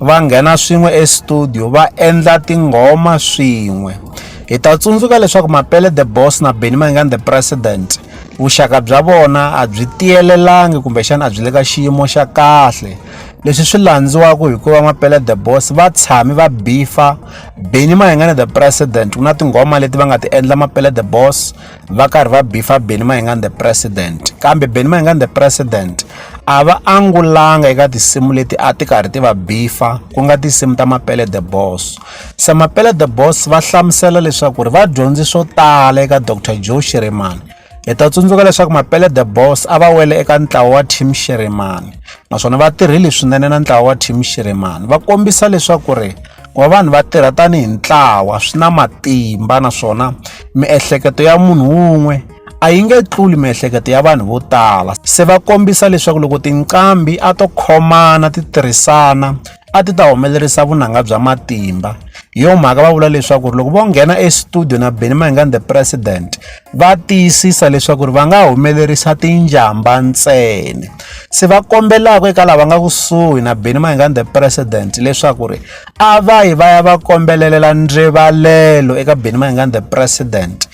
va nghena swin'we estudio va endla tinghoma swin'we hi ta tsundzuka leswaku mapele the boss na benny mayingani the president vuxaka bya vona a byi tiyelelangi kumbexana a byi le ka xiyimo xa kahle leswi swi landziwaka hikuva mapele the boss va tshami va bifa benny mayingani the president ku na tinghoma leti va nga ti endla mapele the boss va karhi va bifa Benny Mayengani the president kambe Benny Mayengani the president a va angulanga eka tinsimu leti a ti karhi ti va bifa ku nga tinsimu ta Mapele the Boss se Mapele the Boss va hlamusela leswaku ri va dyondzi swo tala eka Dr Joe Shirimani hi ta tsundzuka leswaku Mapele the Boss a va wele eka ntlawa wa Team Shirimani naswona va tirhile swinene na ntlawa wa Team Shirimani va kombisa leswaku ri ku va vanhu va tirha tanihi ntlawa swi na matimba naswona miehleketo ya munhu wun'we a yi nge tluli miehleketo ya vanhu vo tala se va kombisa leswaku loko tinqambi a to khomana ti tirhisana a ti ta humelerisa vunanga bya matimba hi yo mhaka va vula leswaku loko vo nghena estudio na benny mahingani the president va tiyisisa leswaku va nga humelerisa tinjhamba ntsena se va kombelaka eka lava nga kusuhi na beni mayingani the president leswaku ri a va yi va ya va kombelelela ndrivalelo eka beni mayingani the president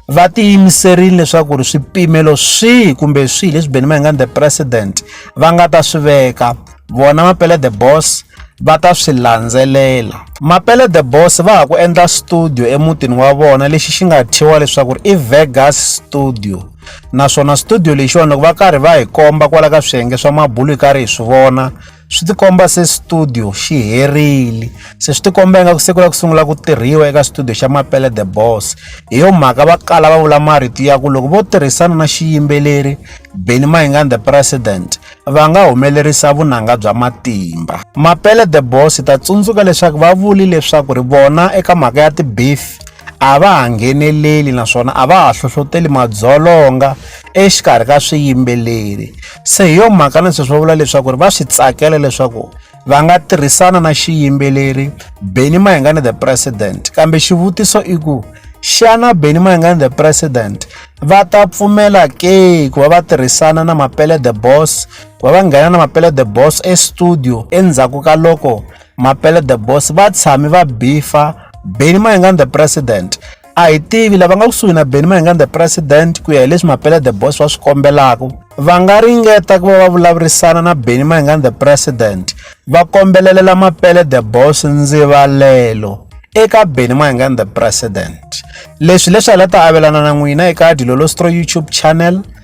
va tiyimiserile leswaku ri swipimelo swihi kumbe swihi leswi beni mayingani the president va nga ta swi veka vona mapele the boss va ta swi landzelela mapele the boss va ha ku endla studio emutini wa vona lexi xi nga thyiwa leswaku ri i vegas studio naswona studio lexiwani loko va karhi va hi komba kwala ka swiyenge swa mabulu hi karhi hi swi vona swi tikomba se studio xi herile se swi tikomba ingaku se ku lava ku sungula ku tirhiwa eka studio xa mapele the boss hi yo mhaka va kala va vula marito ya ku loko vo tirhisana na xiyimbeleri beni mahingani the president va nga humelerisa vunanga bya matimba. Mapele the Boss ta tsundzuka leswaku va vuli leswaku ri vona eka mhaka ya tibeef a va ha ngheneleli naswona a va ha hlohloteli madzolonga exikarhi ka swiyimbeleri se hi yo mhaka na sweswi va vula leswaku ri va swi tsakela leswaku va nga tirhisana na xiyimbeleri benny mayengani the president kambe xivutiso i ku xana benny mayengani the president va ta pfumela ke ku va va tirhisana na mapele the boss ku va va nghena na mapele the boss estudio endzhaku ka loko mapele the boss va tshami va bifa benny mayengani the president a hi tivi lava nga kusuhi na benny mayengani the president ku ya hi leswi mapele the boss va swi kombelaka va nga ringeta ku va va vulavurisana na benny mayengani the president va kombelelela mapele the boss ndzivalelo eka benny mayengani the president leswi leswi a la ta avelana na n'wina eka dilolostro youtube channel